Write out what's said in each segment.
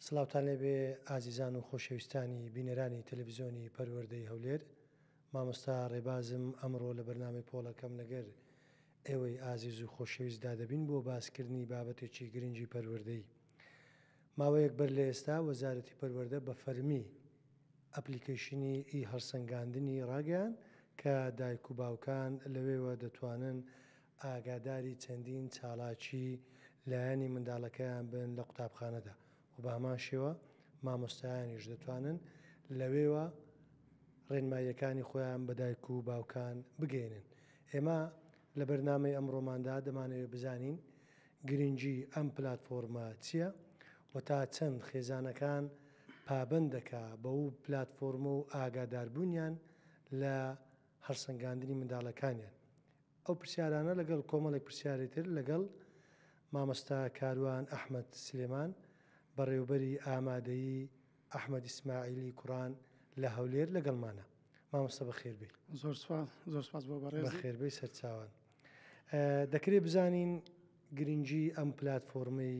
سلااوان لێبێ ئازیزان و خۆشەویستانی بینەرانی تەلەڤزیۆنی پەروەەردەی هەولێر مامۆستا ڕێبازم ئەمڕۆ لە بەرنامی پۆڵەکەم لەگەر ئێوەی ئازیز و خۆشەویستدا دەبین بۆ باسکردنی بابەتێکی گرنگی پەروەەردەی ماوەیەک بەر لە ئێستا وەزارەتی پەروەردە بە فەرمی ئەپلیکەیشنی ئی هەڵسەنگاندنی ڕاگەیاند کە دایک و باوکان لەوێوە دەتوانن ئاگاداری چەندین چالاکی لایەنی منداڵەکەیان بن لە قوتابخانەدا و بە هەمان شێوە مامۆستایانیش دەتوانن لەوێوە ڕێنماییەکانی خۆیان بە دایک و باوکان بگەینن ئێمە لە بەرنامەی ئەمڕۆماندا دەمانەوێت بزانین گرنگی ئەم پلاتفۆرمە چیە و تا چەند خێزانەکان پابەند دەکا بەو پلاتفۆرمە و ئاگاداربونیان لە هەڵسەنگاندنی منداڵەکانیان؟ ئەو پرسیارانە لەگەڵ کۆمەڵێک پرسیاری تر لەگەڵ مامۆستا کاروان ئەحمەد سلێمان بەڕێوبەری ئامادەیی ئەحمەد ئیسماعیلی کوڕان لە هەولێر لەگەڵمانە. مامۆستا بەخێربێی. زۆر سوپاس زۆر سوپاس بۆ بەڕێزت. بەخێربێی سەرچاوان. دەکرێت بزانین گرنگی ئەم پلاتفۆرمەی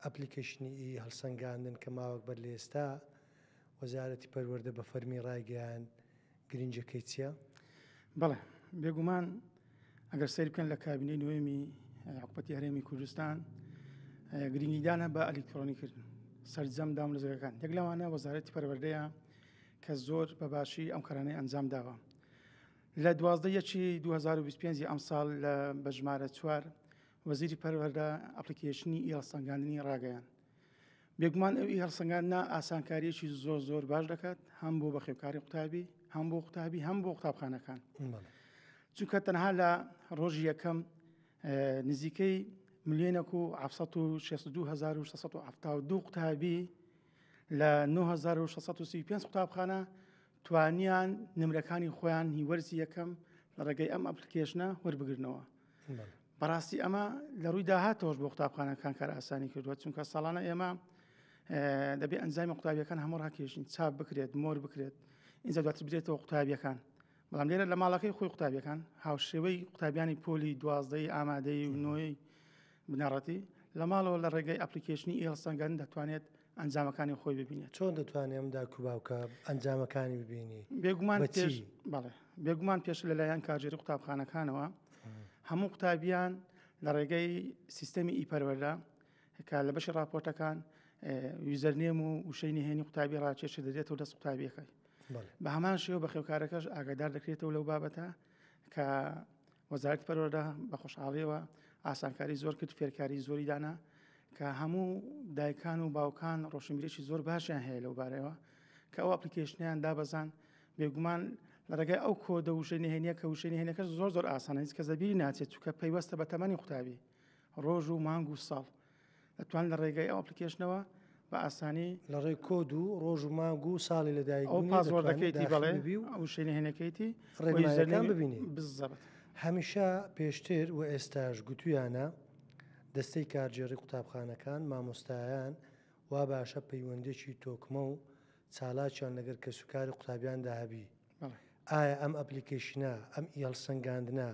ئەپلیکەیشنی ئی هەڵسەنگاندن کە ماوەک بەر لە ئێستا وەزارەتی پەروەردە بە فەرمی ڕایگەیاند گرنگەکەی چیە؟ بەڵێ بێگومان ئەگەر سەیر بکەن لە کابینەی نوێمی حکوپەتی هەرێمی کوردستان گرنگیدانە بە ئەلیکترۆنی کردن سەرجەم دام لەزەکان یەک لەوانە وەزارەتی پەروەردەیە کە زۆر بەباشی ئەم کارانەی ئەنجام داوە لە دوازدە ی دوو هەزار و بیست و پێنج ی ئەمساڵ لە بە ژمارە چوار وەزیری پەروەردە ئەپلیکەیشنی ئی هەڵسەنگاندنی ڕاگەیاند. بێگومان ئەو ئی هەڵسەنگاندنە ئاسانکارییەکی زۆر زۆر باش دەکات هەم بۆ بەخێوکاری قوتابی هەم بۆ قوتابی هەم بۆ قوتابخانەکان چونکە تەنها لە ڕۆژی یەکەم نزیکەی ملیۆنەک و 1970 قوتابی لە نۆ هەزار و شەش سەد و سی و پێنج قوتابخانە توانیان نمرەکانی خۆیان هی وەرزی یەکەم لە ڕێگەی ئەم ئەپلیکێشنە وەربگرنەوە بەڕاستی ئەمە لە ڕووی داهاتەوەش بۆ قوتابخانەکان کار ئاسانی کردووە چونکە ساڵانە ئێمە دەبێ ئەنجامی قوتابیەکان هەموو ڕاکێشین چاپ بکرێت مۆر بکرێت ئینجا دواتر بدرێتەوە قوتابیەکان بەڵام لێرە لە ماڵەکەی خۆی قوتابیەکان هاوشێوەی قوتابیانی پۆلی دوازدەی ئامادەی و نوۆی بنەڕەتی لە ماڵەوە لە ڕێگەی ئەپلیکیشنی ئێڵسەنگەن دەتوانێت ئەنجامەکانی خۆی ببینێت چۆن دەتوانێت ئەم داکو باوکە ئەنجامەکانی ببینی بێگومان بەڵێ بێگومان پێش لەلایەن کاژێری قوتابخانەکانەوە هەموو قوتابیان لە ڕێگەی سیستەمی ئیپەروەردا کە لە بەشی راپۆرتەکان ویزەرنێم و وشەی نهێنی قوتابی ڕاکێشە دەدێتەوە دەست قوتابیەکەی بە هەمان شێوە بە خێوکارەکەش ئاگادار دەکرێتەوە لەو بابەتە کە وەزارەتی پەروەردە بە خۆشحاڵیەوە ئاسانکاری زۆر کرد فێرکاری زۆری دانا کە هەموو دایکان و باوکان ڕۆشنبیرێکی زۆر باشیان هەیە لەو بارەوە کە ئەو ئەپلیکیشنیان دابەزان بێگومان لە ڕێگای ئەو کۆدە وشەی نهێنە کە وشەی نهێنەکە زۆر زۆر ئاسانە هیچ کە زەبیری ناچێت چکە پەیوەستە بە تەمەنی قوتابی ڕۆژ و مانگ و ساڵ ئەتوان لە ڕێگەی ئەو ئەپلیکێشنەوە بە ئاسانی لە ڕێ کۆد و ڕۆژ و مانگ و ساڵی لەدایک ئەو پازۆردەکەیتی بەڵێ بی و ئەو شوێنی هێنەکەیتی ڕێگەیان ببینی بزەبت هەمیشە پێشتر و ئێستاش گوتویانە دەستەی کارگێڕی قوتابخانەکان مامۆستایان وا باشە پەیوەندێکی تۆکمە و چالاکیان لەگەر کەسوکاری قوتابیاندا هەبی ئایا ئەم ئەپلیکەیشنە، ئەم هەڵسەنگاندنە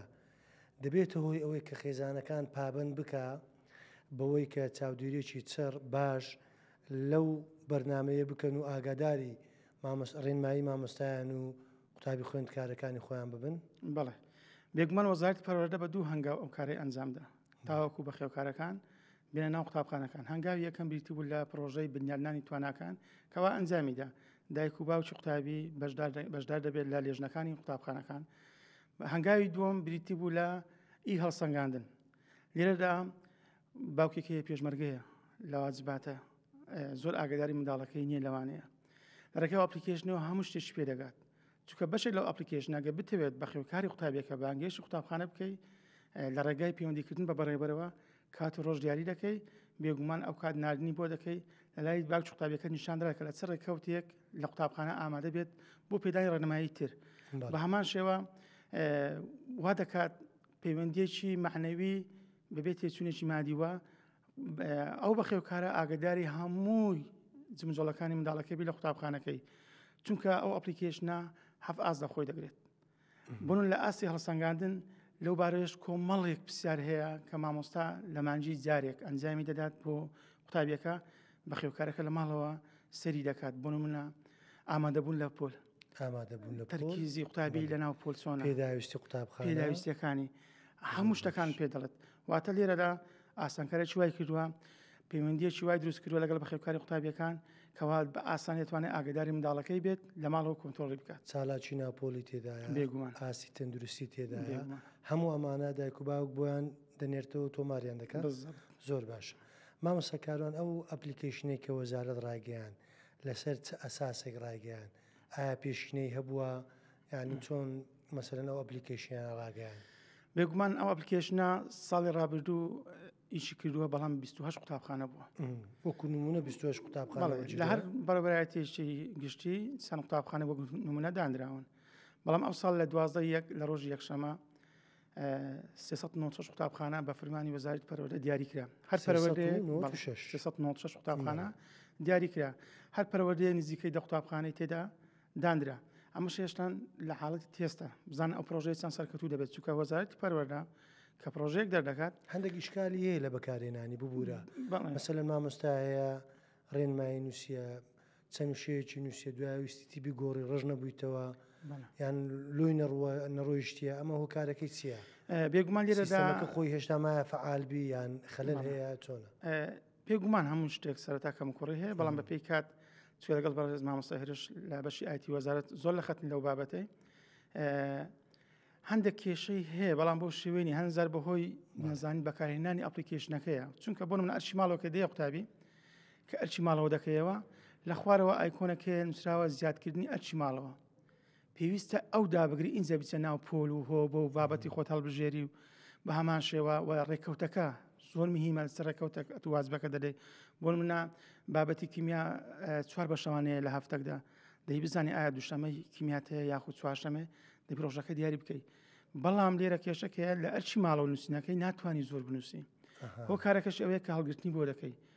دەبێتە هۆی ئەوەی کە خێزانەکان پابەند بکا بەوەی کە چاودێرییەکی چڕ، باش لەو بەرنامەیە بکەن و ئاگاداری ڕێنمایی مامۆستایان و قوتابی خوێندکارەکانی خۆیان ببن؟ بەڵێ. بێگومان وەزارەتی پەروەردە بە دوو هەنگاو ئەو کارەی ئەنجامدا تاوەکو بەخێوکارەکان بێنە ناو قوتابخانەکان هەنگاوی یەکەم بریتی بوو لە پرۆژەی بنیادنانی تواناکان کەوا ئەنجامیدا دایک و باوکی قوتابی بەشدار دەبێت لە لێژنەکانی قوتابخانەکان هەنگاوی دووەم بریتی بوو لە ئی هەڵسەنگاندن لێرەدا باوکێکی پێشمەرگەیە لە واجباتە زۆر ئاگداری منداڵەکەی نییە لەوانەیە لەڕێکە ئەپلیکیشنەوە هەموو شتێکی پێ دەگات چکە بەشێک لەو ئەپلیکیشنەگە بتەوێت بەخێوکاری قوتابیەکە بانگێشی قوتابخانە بکەیت لە ڕێگای پەیوەندیکردن بە بەڕێبەرەوە کات و ڕۆژ دیاری دەکەی بێگومان ئەو کات نردنی بۆ دەکەی لەلای باک قوتابیەکە نیشاندرا کە لە چ ڕێککەوتێک لە قوتابخانە ئامادە بێت بۆ پێدانی ڕێنمایی تر بە هەمان شێوە وا دەکات پەیوەندیەکی معنەوی بەبێت تێچوونێکی مادیوە ئەو بەخێوکارە ئاگداری هەمووی جمجۆڵەکانی منداڵەکەبی لە قوتابخانەکەی چونکە ئەو ئەپلیکیشنە هەف ئاز لە خۆی دەگرێت بوون لە ئاستی هەڵسەنگاندن لەو بارەش کۆمەڵێک پرسیار هەیە کە مامۆستا لە مانجی جارێک ئەنجامی دەدات بۆ قوتابیەکە بە خێوکارەکە لە ماڵەوە سەری دەکات بۆ منە ئامادەبوون لە پۆل ئامادەبوون لە تەرکیزی قوتابی لە ناو پۆلسۆن پێداویستی قوتابخانەویستەکانی هەموو شتەکان پێ دەڵێت واتە لێرەدا ئاسانکاریی وای کردووە پەیوەندیەکی وای دروست کردووە لەگەڵ بەخێوکاری قوتابیەکان کەوا بە ئاسان دەتوانێت ئاگداری منداڵەکەی بێت لە ماڵەوە کۆنتۆڵی بکات چالاکی ناپۆلی تێدایە بێگومان ئاسی تەندروستی تێدایە هەموو ئەمانە دایک و باوک بۆیان دەنێرتەوە تۆماریان دەکات زۆر باش مامەسەکاران ئەو ئەپلیکیشنێک کە وەزارت ڕایگەیان لەسەر چ ئەساسێک ڕایگەیان ئایا پێشینەی هەبووە یانی چۆن مەسەرەن ئەو ئەپلیکیشنیان ڕاگەیان بێگومان ئەو ئەپلیکیشنە ساڵی ڕابردوو ئیشی کردووە بەڵام 28 قوتابخانە بووە وەکو نمونە 28 قوتابخانە لە هەر بەڕبەتێشتی گشتی سان قوتابخانە وەک نمونە دانراون بەڵام ئەو ساڵ لە دوازدە یەک لە ڕۆژی یەکشەمە 396 قوتابخانە بە فرمانی وەزارت پەرۆدە دیاریکرا هەر پەرەوەردە 396 قوتابخانە دیاریکرا هەر پەرەوەردەیە نزیکەی دە قوتابخانەی تێدا دانرا ئەمەش هێشتان لە حاڵەتی تێستە بزان ئەو پرۆژەی چەند سەرکەتوو دەبێت چووکە وەزارەتی پەروەەردە کە پرۆژێک دەردەکات هەندێک ئیشکالی هەیە لە بەکارێنانی ببوورە مەسەل مامۆستا هەیە ڕێنمایی نووسە چەند شەیەکی نووسە دوایویستی بگۆڕی ڕژ نەبوویتەوە یان لۆی نەڕوە نەڕۆیشتە ئەمە هۆکارەکەی چییە بێگومان لێرەدا خۆی هێشتا مایە فعالبی یان خەلەن هەیە چۆنە بێ گومان هەموو شتێک سەرەتا کەم کوڕی هەیە بەڵام بە پێی کات چێ لەگەڵ بەڕێز مامۆستا هێرش لە بەشی ئایتی وەزارت زۆر لە خەتن لەو بابەتەی هەندێک کێشەی هەیە بەڵام بۆ شێوێنی هەنزار بەهۆی نازانی بەکارهێنانی ئەپلیکیشنەکەیە چونکە بۆ من ئەرشی ماڵۆکە دێ قوتابی کە ئەرچی ماڵەوە دەکەیەوە لە خوارەوە ئایکۆنەکە نووسراوە زیادکردنی ئەرچی ماڵەوە پێویستە ئەو دابگری ئینجا بچە ناو پۆل و هۆ بۆ و بابەتی خۆت هەڵبژێری و بە هەمان شێوە و ڕێککەوتەکە زۆر مهمە سە ڕێککەوتە تو وازبەکە دەدەی بۆ منە بابەتی کیمیا چوار بەشەوانەیە لە هەفتەکدا دەی بزانانی ئایا دوشەمەی کیمیاتەیە یاخود چوارشەمێ دە پرۆژەکە دیاری بکەیت بەڵام لێرە کێشەکەیە لە ئەرچی ماڵەوە نووسینەکەی ناتوانانی زۆر بنووسی هۆ کارەکەش ئەوەیە کە هەڵگرتنی بۆ دەکەی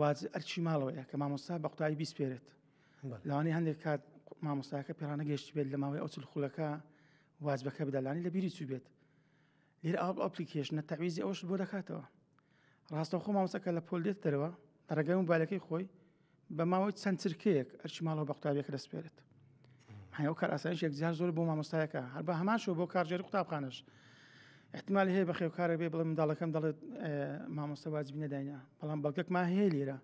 واز ئەرچی ماڵەوەیە کە مامۆستا بە قوتابی بیسپێرێت لەوانی هەندێک کات مامۆستاکە پێڕانە گەشت بێت لە ماوەی ئەوچل خولەکە واز بەکە بدەلانی لە بیری چوو بێت لێر ئاڵ ئەپلیکێش نە تەویزی ئەوش بۆ دەکاتەوە ڕاستە خۆ مامۆسەکە لە پۆل دێت دەرەوە ڕێگەی و بالەکەی خۆی بە ماوەی چەند چرکەیەک ئەرچی ماڵەوە بە قوتابیەکە دەسپێرێت هەیەو کاراسانش یەکجار زۆر بۆ مامۆستایەکە هەر بە هەمان شو بۆ کارژێری قوتابخانش احتمال هەیە بە خێوکارە بێ بڵێ منداڵەکەم دەڵێت مامۆستا واجبی نەداینا بەڵام بەڵگەکمان هەیە لێرە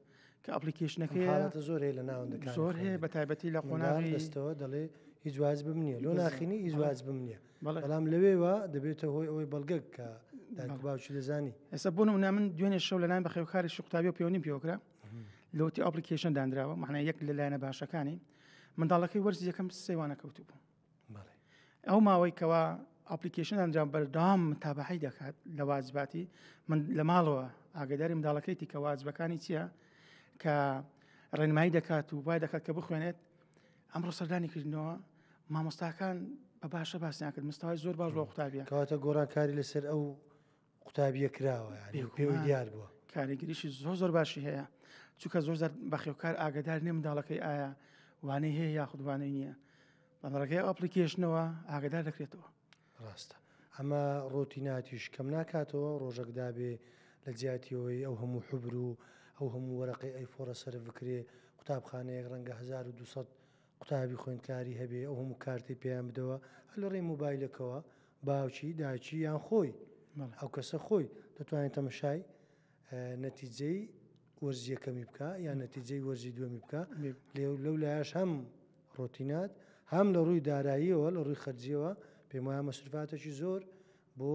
کە ئەپلیکیشنەکە حالەتە زۆر هەیە لە ناوەندەکان زۆر هەیە بە تایبەتی لە قۆناغی دەستەوە دەڵێ هیچ واز بم نییە لۆ ناخینی هیچ واز بم نییە بەڵام لەوێوە دەبێتە هۆی ئەوەی بەڵگەک کە باوچی دەزانی ئێستا بۆ نمونە من دوێنێ شەو لەلاین بە خێوکاری شقوتابی و پێوەنی پێوەکرا لەوتی ئەپلیکیشن دانراوە معنای یەک لە لایەنە باشەکانی منداڵەکەی وەرزی یەکەم سێوانە کەوتبوو ئەو ماوەی کەوا ئاپلیکیشن ئەنجام بەردام تابعی دەکات لە واجباتی من لە ماڵەوە ئاگداری منداڵەکەیتی کە واجبەکانی چییە کە ڕێنمایی دەکات و وای دەکات کە بخوێنێت ئەمڕۆ سەردانی کردنەوە مامۆستاکان بە باشە باسیان کرد مستەوای زۆر باش بۆ قوتابیان کەواتە گۆڕانکاری لەسەر ئەو قوتابیە کراوە پێوی دیار بووە کاریگەریشی زۆر زۆر باشی هەیە چونکە زۆر زار بەخێوکار ئاگدار نیە منداڵەکەی ئایا وانەی هەیە یاخودوانەی نییە بەڕگەی ئەپلیکیشنەوە ئاگدار دەکرێتەوە ڕاستە ئەمە ڕۆتیناتیش کەم ناکاتەوە ڕۆژەکدا بێ لە جیاتیەوەی ئەو هەموو حبر و ئەو هەموو وەرەقی ئەیفۆرە سەر بکرێ قوتابخانەیەک ڕەنگە 1200 قوتابی خوێندکاری هەبێ ئەو هەموو کارتەی پێیان بدەوە هەر لە ڕێی موبایلەکەوە باوکی داچی یان خۆی ئەو کەسە خۆی دەتوانێت تەمەشای نەتیجەی وەرزیەکەمی بکە یان نەتیجەی وەرزی دووەمی بکە لەو لایش هەم ڕۆتینات هەم لە ڕووی داراییەوە لە ڕووی خەرجیەوە پێم وایە مەسرفاتەکی زۆر بۆ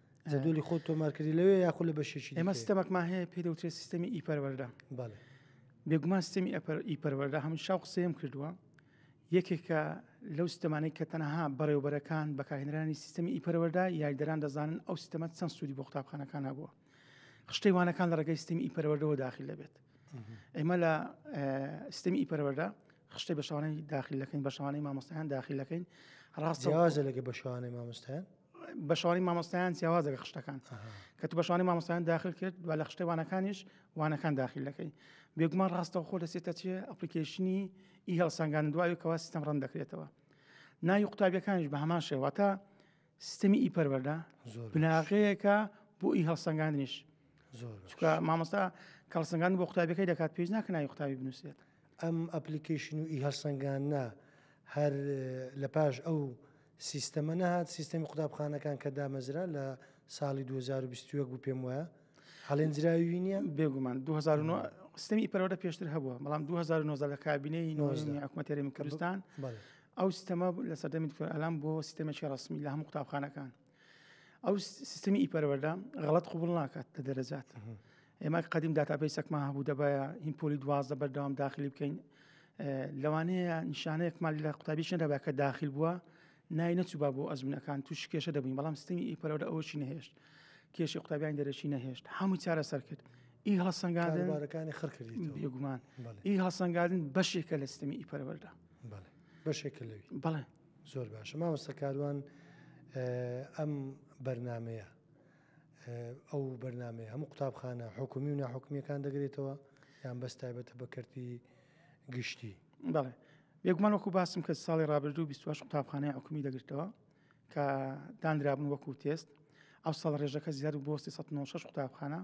جدولی خۆ تۆمارکردی لەوێ یاخود لە بەشێکی ئێمە سیستەمەکمان هەیە پێ دەوترێت سیستەمی ئی پەروەەردە بێگومان سیستەمی ئەپەر ئی پەروەەردە هەمن شاو قسەیەم کردووە یەکێکە لەو سیستەمانەی کە تەنەها بەڕێوبەرەکان بەکارهێنرانی سیستەمی ئی پەروەەردە یاریدەران دەزانن ئەو سیستەمە چەند سوودی بۆ قوتابخانەکان هەبووە خشتەیوانەکان لە ڕێگەی سیستەمی ئی پەروەەردەوە داخل دەبێت ئێمە لە سیستەمی ئی پەروەەردە خشتە بە شوانەی داخلەکەین بە شوانەی مامۆستایان داخلەکەین ڕاستەوازە لەگە بە شوانەی مامۆستایان بەشانی مامۆستایان جیاوازە لە خشتەکان کە تو بەشانی مامۆستایان داخل کرد و لە خشتەوانەکانیش وانەکان داخل دەکەی بێگومان ڕاستەوە خۆ دەسێتە چێ ئەپلیکیشنی ئی هەڵسانگان دوای کەوا سیستم ڕەن دەکرێتەوە ناوی قوتابیەکانیش بە هەمان شێواتە سیستمی ئی پەروەەردە بناغەیەەکە بۆ ئی هەڵسەنگاندنیش چکە مامۆستا کەڵسەنگان بۆ قوتابەکەی دەکات پێش ناکە ناوی قوتابی بنووسێت ئەم ئەپلیکەیشن و ئیهەڵسەنگاندنە هەر لە پاش ئەو سیستەمە نەهات سیستەمی قوتابخانەکان کە دامەزرا لە ساڵی 2021 بوو پێم وایە هەڵێنجراوی نییە بێگومان 2009 سیستمی پەرەوەدە پێشتر هەبووە بەڵام 2009 لە کابینەی حکوومەتێرەمی کوردستان ئەو سیستەمە لە سەردەمی دکتۆر ئەلام بۆ سیستەمێکی ڕسمی لە هەموو قوتابخانەکان ئەو سیستمی ئیپەرەوەدا غەڵت قوبڵ ناکات لە دەرەجات ئێمە قدیم داتابیسەکمان هەبوو دەبایە هین پۆلی دوازدە بەردەوام داخلی بکەین لەوانەیە نیشانەیەکمان لە قوتابیش نەدەبا کە داخل بووە نای نەچوبا بۆ ئەزمونەکان توش کێشە دەبین بەڵام ستنی ئی پەرەوە ئەوشی نەهێشت کێشی قوتابیان دەرەشی نەهێشت هەموو چارە سەر کرد ئی هەڵسەنگادنەکانی خڕکردی بێگومان ئی هەڵسەنگادن بەشێکە لە ستمی ئی پەرەوەدا بەشێکە لەوی بەڵێ زۆر باشە مامۆستەکاروان ئەم بەرنمەیە ئەو بەرنمەیە هەموو قوتابخانە حکومی و ناحکمیەکان دەگرێتەوە یان بەس تایبەتە بە کردی گشتی بەڵێ بێگومان وەکو باسم کە ساڵی ڕابردوو 28 قوتابخانەی حکومی دەگرتەوە کە دانرابن وەکو تێست ئەو ساڵ ڕێژەکە زیاد بۆ 1996 قوتابخانە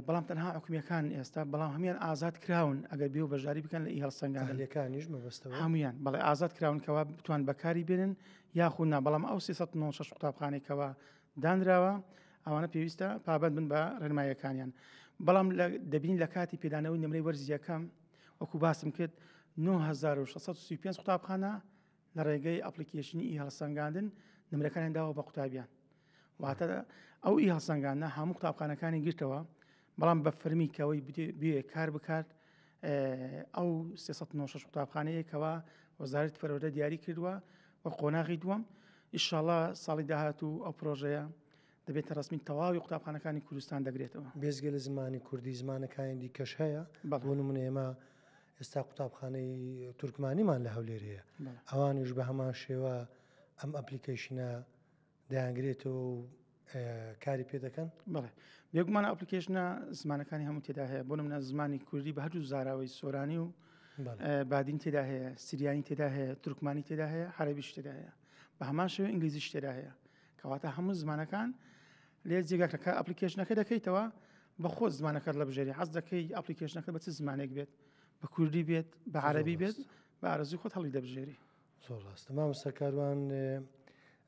بەڵام تەنها حکومیەکان ئێستا بەڵام هەمان ئازاد کراون ئەگەر بێ بەژاری بکەن لە هەڵسەنگانەکانیش مەبەستەوە هەمویان بەڵێ ئازاد کراونکەوە بتوان بەکاری بێنن یاخود نا بەڵام ئەو 1996 قوتابخانێکەوە دانراوە ئەوانە پێویستە پابند بن بە ڕێنمایەکانیان بەڵام دەبین لە کاتی پێدانەوەی نمرەی وەرزیەکەم وەکو باسم کرد 1935 قوتابخانە لە ڕێگەی ئەپلیکیشنی ئی هەڵسەنگاندن نمرەکانیان داوە بە قوتابیان واتە ئەو ئی هەڵسەنگانە هەموو قوتابخانەکانی گرتەوە بەڵام بە فەرمی کەەوەی بێ کار بکات ئەو 396 قوتابخانەیە کەوا وەزارت پەرۆدە دیاری کردووە و قۆناغی دووەم ئیشاڵا ساڵی داهات و ئەو پرۆژەیە دەبێتە ڕستمی تەواوی قوتابخانەکانی کوردستان دەگرێتەوە بێزگە لە زمانی کوردی زمانەکانی دیکەش هەیە بەڵون من ئێمە ئێستا قوتابخانەی تورکمانیمان لە هەولێرەیە ئەوانیش بە هەمان شێوە ئەم ئەپلیکیشنە دەیانگرێتەوە و کاری پێ دەکەن بڵێ بێگومانە ئەپلیکیشنە زمانەکانی هەموو تێدا هەیە بۆ منە زمانی کوردی بە هەردوو زاراوەی سۆرانی و بادین تێدا هەیە سریانی تێدا هەیە ترکمانی تێدا هەیە حربیش تێدا هەیە بە هەمان شێوە ئینگلیزیش تێدا هەیە کەواتە هەموو زمانەکان لێ جێگاکەکە ئەپلیکیشنەکە دەکەیتەوە بە خۆ زمانەکەت لە بژێری حەز دەکەی ئەپلیکیشنەکە بە چ زمانێک بێت بە کوردی بێت بە عربی بێت بە ئارزی خۆت هەڵی دەبژێری زۆر ڕاستە مامۆستا کاروان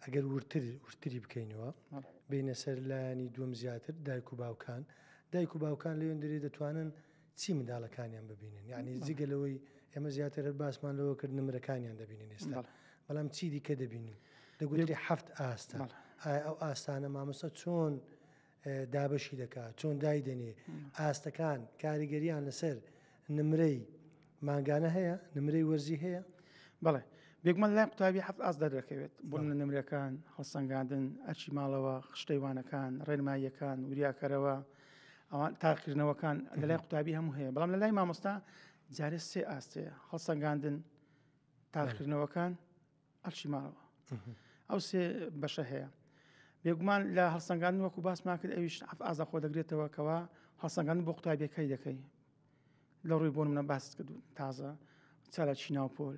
ئەگەر ورتر ورتری بکەینەوە بینە سەر لایانی دوم زیاتر دایک و باوکان دایک و باوکان لەوێن درێ دەتوانن چی منداڵەکانیان ببینن یعنی جگە لەوەی ئێمە زیاتر هەر باسمان لەوە کرد نمرەکانیان دەبینن ئێستا بەڵام چی دیکە دەبینن دەگوێری هەفت ئاستا ئایا ئەو ئاستانە مامۆستا چۆن دابەشی دەکا چۆن دایدەنێ ئاستەکان کاریگەریان لەسەر نمرەی مانگانە هەیە نمرەی وەرزی هەیە بڵێ بێگومان لای قوتابی هەفت ئاست دەردەکەوێت بۆ لە نمرەکان هەڵسەنگاندن ئەرچی ماڵەوە خشتەیوانەکان ڕێنماییەکان وریاکەرەوە ئەوان تاقیکردنەوەکان لە لای قوتابی هەموو هەیە بەڵام لە لای مامۆستا جارێ سێ ئاستەیە هەڵسەنگاندن تاقیکردنەوەکان ئەرچی ماڵەوە ئەو سێ بەشە هەیە بێگومان لە هەڵسەنگان وەکو باسمان کرد ئەویش ئەف ئازا خۆ دەگرێتەوە کەەوە هەڵسەنگان بۆ قوتابیەکەی دەکەی لە ڕووی بۆ منە باست کرد تازە چاە چیناو پۆل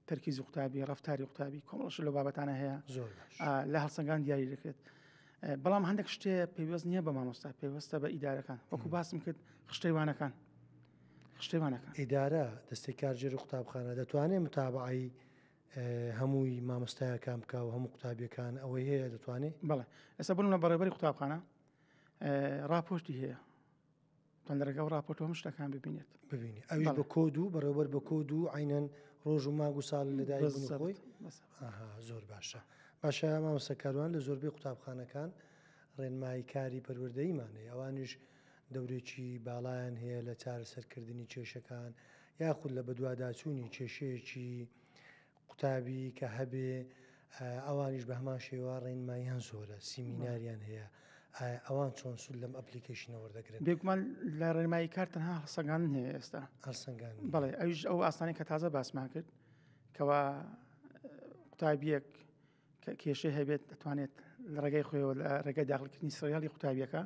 تەرکیزی قوتابی ڕفتاری قوتابی کۆمەڵش لە بابەتانە هەیە زۆر لە هەڵسەنگان دیاری دەکرێت بەڵام هەندێک شتێ پێوەست نییە بە مامۆستا پێوەستە بە ئیدارەکان وەکو باسم کرد خشتەیوانەکان شتێوانەکە ئیدارە دەستی کارژێر و قوتابخانە دەتوانێت متابعی هەمووی مامۆستایە کام بکە و هەموو قوتابیەکان ئەوەی هەیە دەتوانێت بڵێ ئەسە بن لە بەڕێبەری قوتابخانە راپۆشتی هەیە پندەرەکە و راپۆرت هەم شتەکان ببینێت ببینی ئەوی بە کۆد و بەڕێوەەر بە کۆد و عینەن ڕۆژ و ماگ و ساڵ لەدای خۆی زۆر باشە باشە مامۆسەکاروان لە زۆربەی قوتابخانەکان ڕێنمایی کاری پەروەردەیمانەیە ئەوانیش دەورێکی باڵایان هەیە لە چارەسەرکردنی کێشەکان یاخود لە بەدواداچوونی کێشەیەکی قوتابی کە هەبێ ئەوانیش بە هەمان شێوە ڕێنماییان زۆرە سیمیناریان هەیە ئەوان چۆن سول لەم ئەپلیکیشنەوە دەگرن بێکمان لە ڕێنمایی کار تەنها هەڵسەگان هەیە ئێستا هەڵسەنگان بڵێ ئەوش ئەو ئاسانی کە تازە باسمان کرد کەوا قوتابیەک کە کێشەی هەبێت دەتوانێت لە ڕێگەی خۆیەوە لە ڕێگەی داخلکردنی سریالی قوتابیەکە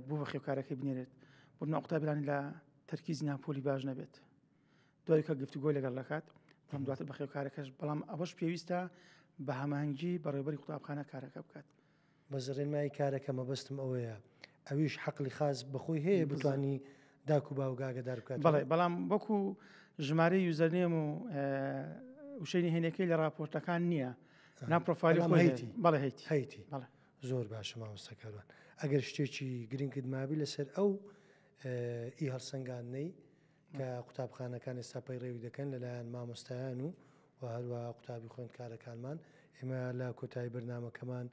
بۆ بە خێوکارەکەی بنێرێت بۆ ناقوتابیانی لە تەرکیز ناپۆلی باش نەبێت دوای کە گفتوگۆی لەگەڵ دەکات تام دواتر بە خێوکارەکەش بەڵام ئەوەش پێویستە بە هەمانگی بەڕێبەری قوتابخانە کارەکە بکات بە زڕێنمایی کارەکە مەبەستم ئەوەیە ئەویش حەقلی خاس بەخۆی هەیە بتانی داک و باوک ئاگدار بکات بڵێ بەڵام وەکو ژمارە یوزەرنێم و وشەی نهێنەکەی لە راپۆرتەکان نییە ناپۆفاالی هەیتی بەڵێ هەیتی هەیتی بەڵێ زۆر باشە مامۆستەکاران ئەگەر شتێکی گرنگت مابی لەسەر ئەو ئی هەڵسەنگاندنەی کە قوتابخانەکان ئێستا پەیڕەوی دەکەن لەلایەن مامۆستایان و و هەروەها قوتابی خوێندکارەکانمان ئێمە لە کۆتایی بەرنمەکەمان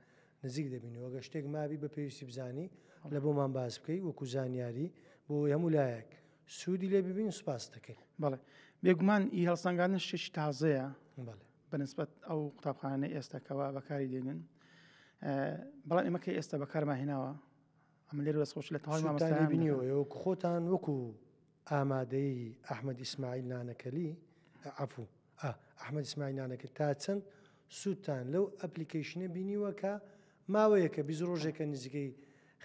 نزیک دەبین وەگە شتێک مابی بە پێویستی بزانی لە بۆمان باس بکەی وەکو زانیاری بۆ هەموو لایەک سوودی لێ ببین سوپاس دەکەین بەڵێ بێگومان ئی هەڵسەنگانە شتێکی تازەیە بەنسبەت ئەو قوتابخانە ئێستاکەەوە بەکاری دێنن بەڵام ئێمە کە ئێستا بەکارماهێناوە ئەمە لێرە دەست خۆش لە تەواوی سوودتان لێ مامۆستایان بینیەوە دەکەم. ئێوە خۆتان وەکو ئامادەی ئەحمەد ئیسماعیل نانەکەلی عەفوو ئا ئەحمەد ئیسماعیل نانەکە تا چەند سوودتان لەو ئەپلیکەیشنە بینیوە کە ماوەیەکە بیست ڕۆژێکە نزیکەی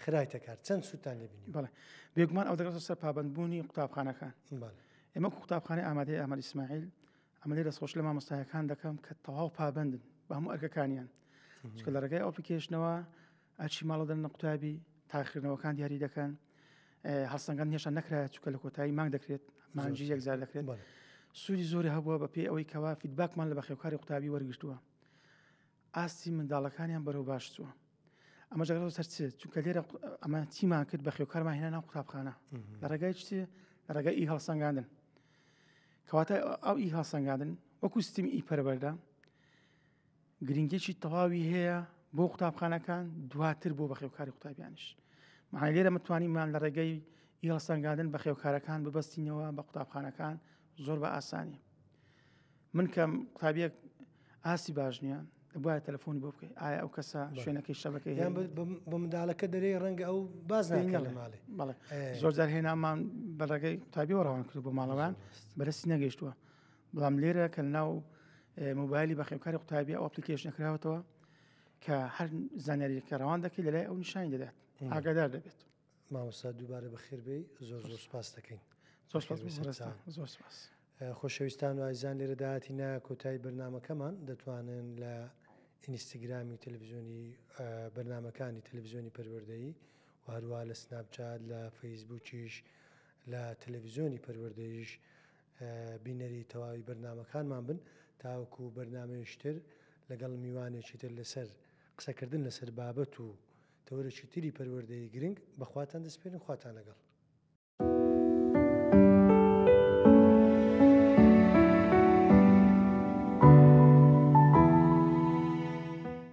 خرایتە کار چەند سوودتان لێ بینیوە بەڵێ بێگومان ئەو دەگەڕێتە سەر پابەندبوونی قوتابخانەکان بەڵێ ئێمە وەکو قوتابخانەی ئامادەی ئامەد ئیسماعیل ئەمە لێ دەستخۆش لە مامۆستایەکان دەکەم کە تەواو پابەندن بە هەموو ئەرکەکانیان چکە لە ڕێگای ئەپلیکیشنەوە ئەرکی ماڵە دەنە قوتابی تاخکردنەوەکان دیاری دەکەن هەڵسەنگان هێشتا نەکرا چکە لە کۆتایی مانگ دەکرێت مانجی یەکزار دەکرێت سوودی زۆری هەبووە بە پێی ئەوەی کەوا فیدباکمان لە بەخێوکاری قوتابی وەرگتووە ئاستی منداڵەکانیان بەرەو باش چووە ئەمە جگەڵ سەرچ چونکە لێرە ئەمە تیمان کرد بە خێوکارمان هێنا ناو قوتابخانە لە ڕێگای چ لە ڕێگای ئی هەڵسەنگاندن کەواتە ئەو ئی هەڵسەنگاندن وەکو سیستمی ئی پەربەردە گرنگێکی تەواوی هەیە بۆ قوتابخانەکان دواتر بۆ بەخێوکاری قوتابیانش معنی لێرە متوانیمان لە ڕێگەی ئیڵسەنگادن بەخێوکارەکان ببەستینەوە بە قوتابخانەکان زۆر بە ئاسانی من کەم قوتابیەک ئاسی باش نییە دەبواە تەلفۆنی بۆ بکەیت ئایا ئەو کەسە شوێنەکەی شەبەکەی هەیە بە منداڵەکە دەرێی ڕەنگە ئەو باز نەکەڵێ ماڵێ زۆر جار هێنامان بەڕێگەی قوتابیەوە ڕەوان کرد بۆ ماڵەوان بەرەسی نەگەشتووە بەڵام لێرە کە ناو موبایلی بەخێوکاری قوتابی ئەو ئەپلیکیشنە کراوەتەوە کە هەر زانیاریەکە ڕەوان دەکەی لەلای ئەو نیشانی دەدات ئاگادار دەبێت مامۆستا دووبارە بەخێربێ زۆر زۆر سپاس دەکەین زۆر زۆر سپاس خۆشەویستان و ئایزان لێرە داهاتی نا کۆتایی بەرنمەکەمان دەتوانن لە ئینیستاگرامی تەلەڤزیۆنی بەرنمەکانی تەلەڤزیۆنی پەروەردەیی و هەروە لە سناپچات لە فەیسبووکیش لە تەلەڤزیۆنی پەروەردەیش بینەری تەواوی بەرنامەکانمان بن تاوەکو بەرنامەیش تر لەگەڵ میوانێکی تر لەسەر قسەکردن لەسەر بابەت و تەوەرێکی تری پەروەردەیی گرنگ بەخواتان دەسپێرین خواتان لەگەڵ.